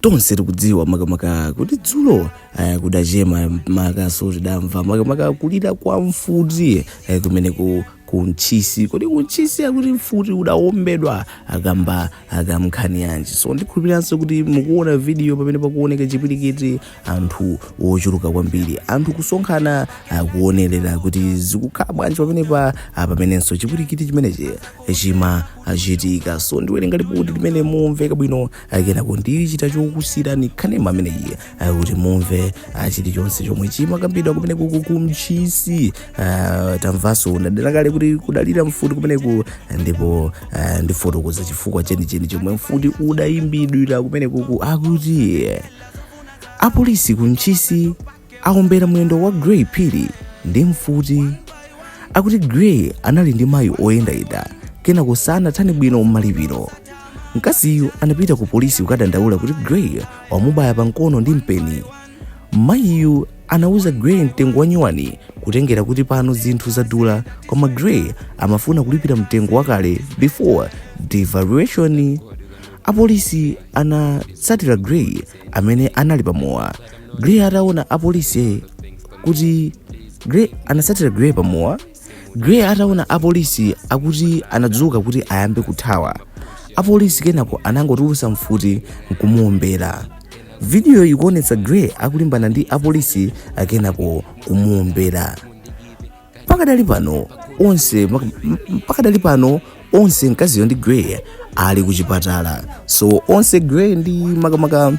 tonse tikudziwa makamaka kuti dzulo eh, kudachema makaso tidamva makamaka kulira kwa mfuti eh, kumeneku ku Ntchisi kodi ku Ntchisi akuti mfuti udawombedwa kamba ka nkhani yanji so ndikhulupiriranso kuti mukuona video pamene pakuoneka chipwirikiti anthu ochuluka kwambiri anthu kusonkhana kuonerera kuti zikukhala bwanji pamenepa ah, pamenenso chipwirikiti chimenechi chimachitika so ndiwerenga lipoti limene mumveka bwino akenako ndilichita chokusirani kanema ameneyi ah, kuti mumve ah, chilichonse chomwe chimakambidwa kumeneku ku Ntchisi ah, tamvanso ndanena kale kuti kudalira mfuti kumeneko ah, ndipo ah, ndifotokoza chifukwa chenicheni chomwe mfuti udaombedwera kumeneku akuti apolisi ku Ntchisi aombera mwendo wa Gray Phiri ndi mfuti. Akuti Gray anali ndi mayi oyendayenda kenako sanathane bwino m'malipiro. Mkaziyu anapita ku polisi kukadandaula kuti Gray wamubaya pa mkono ndi mpeni. Mayiyu anauza Gray mtengo wanyuwani kutengera kuti pano zinthu zadula koma Gray amafuna kulipira mtengo wakale before devaluation. Apolisi anatsatira Gray amene anali pa mowa Gray ataona apolisi kuti Gray anatsatira Gray pa mowa Gray ataona apolisi akuti anadzuka kuti ayambe kuthawa apolisi kenako anangotulutsa mfuti nkumuombera vidiyo ikuonetsa Gray akulimbana ndi apolisi akenako kumuombera pakadali pano onse pakadali pano onse mkaziyo ndi Gray ali kuchipatala so onse Gray ndi makamaka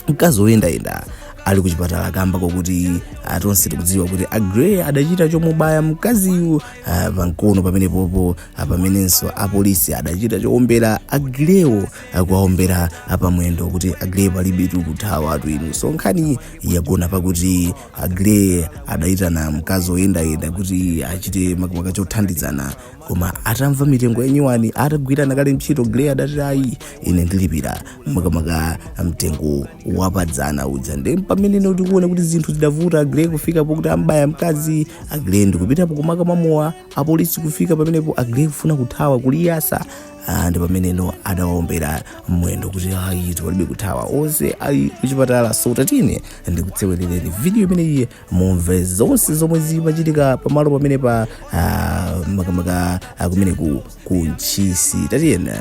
mkazi woyendayenda ali kuchipatala kamba kokuti ah, tonse tikudziwa kuti a Gray adachita chomubaya mkaziyu ah, pamkono pamenepopo ah, pamenenso apolisi adachita chowombera a Gray-wo kuwawombera pamwendo kuti a Gray palibetu kuthawatu inu so nkhani yagona pakuti A Gray adaitana mkazi woyendayenda kuti achite makamaka chothandizana koma atamva mitengo yanyuwani atagwirana kale ntchito Gray adati ayi ine ndilipira makamaka mtengo wapadzana uja nde pameneno tikuona kuti zinthu zidavuta Gray kufika pokuti ambaya mkazi Gray ndikupitano kumakamwa mowa apolisi kufika pamenepo Gray kufuna kuthawa kuliyasa Ah, ndi pameneno adawaombera mwendo kuti ayi palibe kuthawa onse ali kuchipatala so tatini ndikuseweretseni video imeneyi mumve zonse zomwe zimachitika pamalo pamenepa ah, makamaka ah, kumene ku ku Ntchisi tatiyeni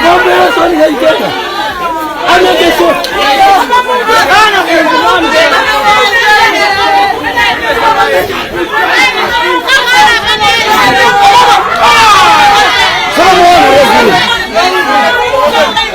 Ng'ombe Yesu anaiteka. Anateswa. Somo la Mungu.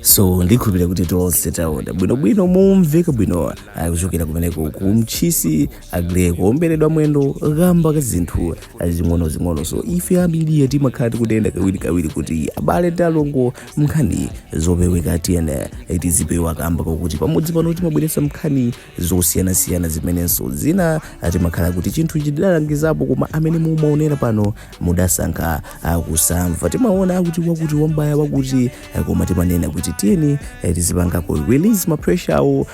so ndikukhulupirira kuti tonse taona bwinobwino momveka bwino akuchokera kumeneko ku Ntchisi agre kuomberedwa mwendo kamba ka zinthu zing'onozing'ono so ife a media timakhala tikunena kawirikawiri kuti abale ndi alongo mnkhani zopeweka tiyene tizipewa kamba kakuti pamudzi pano timabweretsa mnkhani zosiyanasiyana zimenenso zina timakhala kuti chinthu chidalangizapo koma amene mumaonera pano mudasankha ah, kusamva timaona kuti wakuti wambaya wakuti eh, koma timanena kuti tiyeni eh, tizipangako release mapreshawo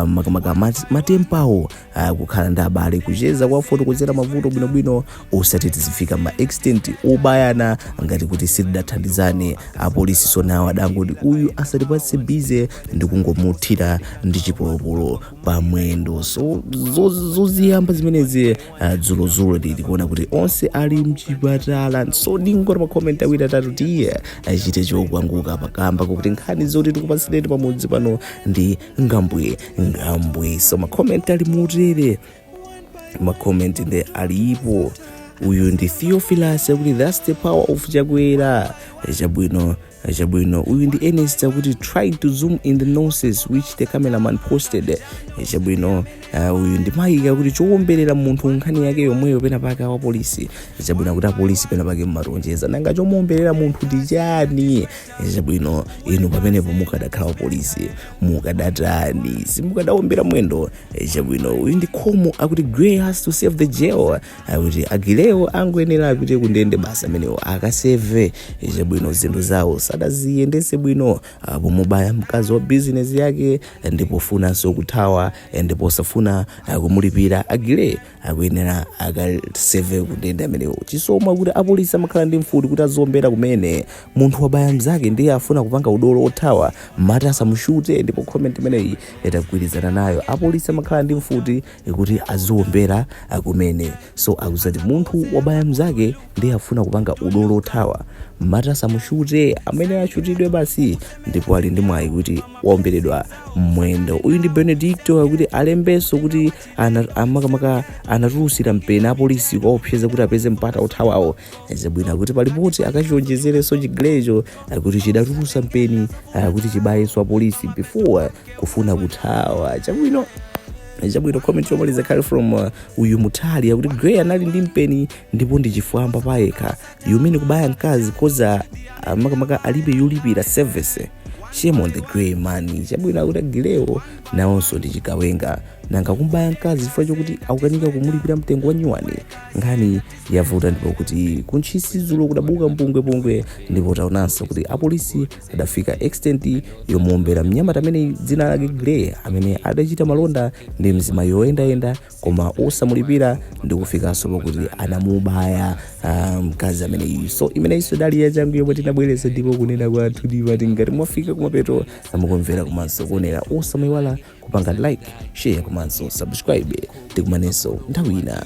makamaka mat- matempawo uh, kukhala ndi abale kucheza kuwafotokozera mavuto bwinobwino osati tizifika ma extent obayana ngati kuti sitingathandizane so apolisi nawo adangoti uyu asatipatse bize ndi kungomuthira ndi chipolopolo pamwendo so zo- zoziyamba zimenezi uh, dzulozulo tili kuona kuti onse ali mchipatala so ndingoti makomenti awiri atatu tiyeni tichite chochanguka pakamba kokuti nkhani zoti tikupatsireni pamudzi pano ndi ngwambwi ngwambwi so makomenti ali mutere makomenti nde alipo uyu ndi theophilus akuti thats the power of chakwera chabwino chabwino uyu ndi Ernest akuti try to zoom in the nonsense which the cameraman posted chabwino ah, uyu ndi maika akuti chowombelera munthu nkhani yake yomweyo pena pake awapolisi chabwino akuti apolisi pena pake mumawonjeza nanga chomuwombelera munthu ndi chani chabwino inu pamenepo mukadakhala wapolisi mukadatani simukadawombera mwendo Eh, chabwino uyu ndi khomo akuti Aggrey has to serve the jail akuti Aggrey-wo akuyenera apite kundende basi amenewo akaseve Eh, chabwino zinthu zawo sadaziyendese bwino apo pomubaya mkazi wa bizinesi yake eh, ndi pofunanso kuthawa eh, ndi posafuna eh, kumulipira Aggrey akuyenera akaseve kundende amenewo chisomo akuti apolisi amakhala ndi mfuti kuti aziombera kumene munthu wabaya mzake ndiye afuna kupanga udolo othawa mati asamushute ndipo comment imeneyi ndagwirizana nayo apolisi amakhala ndi mfuti kuti aziombera kumene so akuti munthu wabaya mzake ndiye afuna kupanga udolo othawa mati asamushute ameneyo ashutidwe basi ndipo ali ndi mwayi kuti waomberedwa mmwendo uyu ndi benedicto akuti alembenso kuti ana- makamaka anatulutsira mpeni apolisi kuwaopseza kuti apeze mpata othawa chabwino akuti palipoti akachiwonjezerenso chi Grey cho eh, kuti chidatulutsa mpeni eh, kuti chibayenso apolisi before kufuna kuthawa chabwino chabwino comment yomaliza ikhale from uh, uyu Muthali akuti Grey anali ndi mpeni ndipo ndi chifwamba pachekha you mean kubaya mkazi coz uh, makamaka alibe yolipira service shame on the grey man chabwino akuti a Grey wo nawonso ndi chigawenga nanga kubaya mkazi chifukwa chokuti akukanika kumulipira mtengo wa nyuwani nkhani yavuta ndi pokuti ku Ntchisi dzulo kudabuka mpungwepungwe ndipo taonanso kuti apolisi adafika extent yomuombera mnyamata amene dzina lake grey amene adachita malonda ndi mzimayi woyendayenda koma osamulipira ndikufikanso pakuti anamubaya ah, mkazi ameneyu so imeneyinso idali yachangu yomwe tinabweretsa ndipo kunena kwathu ndi pati ngati mwafika kumapeto a kumvera komanso kuonera osamaiwala kupanga like share komanso subscribe tikumanenso nthawi ina